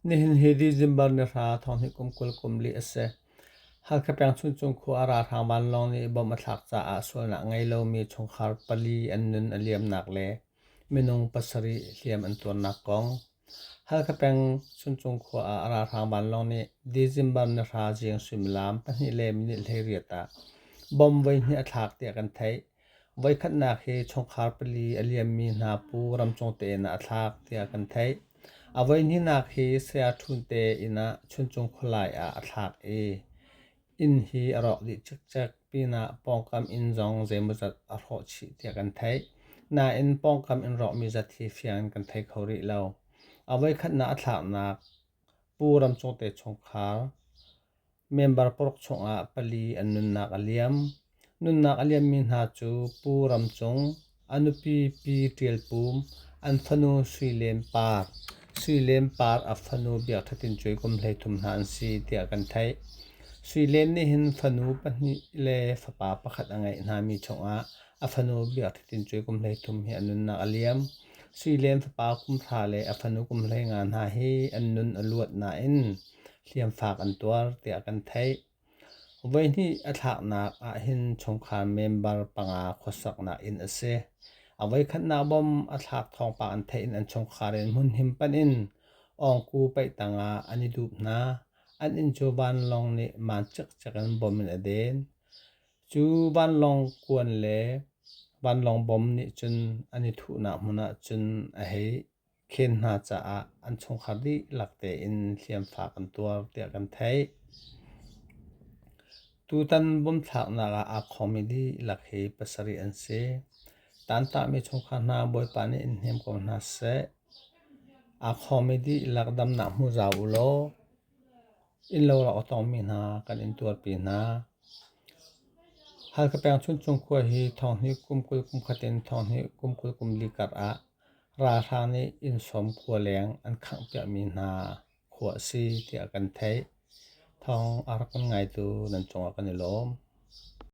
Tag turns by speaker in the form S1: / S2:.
S1: Nihin hi December ni hra thonghnik kum kul kum li a si. Halkha peng Chuncung khua a ralhrang vanlawng nih bom a thlak caah sualnak a ngei lomi chungkhar pali an nun a liamnak le minung pasarih hliam an tuarnak kong. Halkha peng Chuncung khua ah a ralhrang vanlawng nih December ni hra ziang suimilam pahnih le minit hleiriat ah bom voihnih a thlak tiah kan theih. Voikhatnak hi chungkhar pali a liammi hna pu ramcung te in ah a thlak tiah kan theih. A voihnihnak hi Saya Ṭhun te inn ah Chuncung khualai ah a thlak i inn hi a rawk dih cikcek pinah pawngkam inn zong zeimawzat a hrawh chih tiah kan theih. Nain pawngkam in rawkmi zat hi fiang in kan thei kho rih lo. A voikhatnak a thlaknak Pu ramcung te chungkhar Member paruk chungah pali an nunnak a liam. Nunnak a liammi hna cu Pu Ram Cung, a nupi Pi Ṭial Pum, an fanu Sui Lem Par, Sui Lem Par a fanu Biak Ṭha Tin Cuai kum hleithum hna an si tiah kan theih. Sui Lem nih hin fanu pahnih le fapa pakhat a ngeih hngami chungah a fanu Biak Ṭha Tin Cuai kum hleithum hi an nunnak a liam. Sui Lem fapa kum hra le a fanu kum hleinga hna hi an nun a luat nain hliamfak an tuar tiah kan theih. Voihnih a thlaknak ahhin chungkhar member panga khuasaknak inn a si. A voikhatnak bom a thlak thawngpang an theih in an chungkhar in hmunhim panh in ongku paih tangah an i dup hna. An inn cu vanlawng nih maan cikcek in bom in a den. Cu vanlawng kuan le vanlawng bom nih cun an i thuhnak hmun ah cun a hei. Khen hna caah an chungkhar dihlak tein hliamfak an tuar tiah kan theih. Tutan bawmthlaknak ah aa khawmi dihlak hi pasarih an si. Tantahmi chungkhar hna Bawipa nih in hnem ko hna seh. Aa khawmi dihlak damnak hmu zau u law innlo rak aw tawngmi hna kan in tuarpi hna. Halka peng Chuncung khua hi thawnghnih kum kul kum khat in thawnghnih kum kul kum li kar ah Ralhrang nih innsawm khua leng an khanghpiakmi hna khua a si tiah kan theih. Thawng a rak kan ngaitu nan cungah kan i lawm.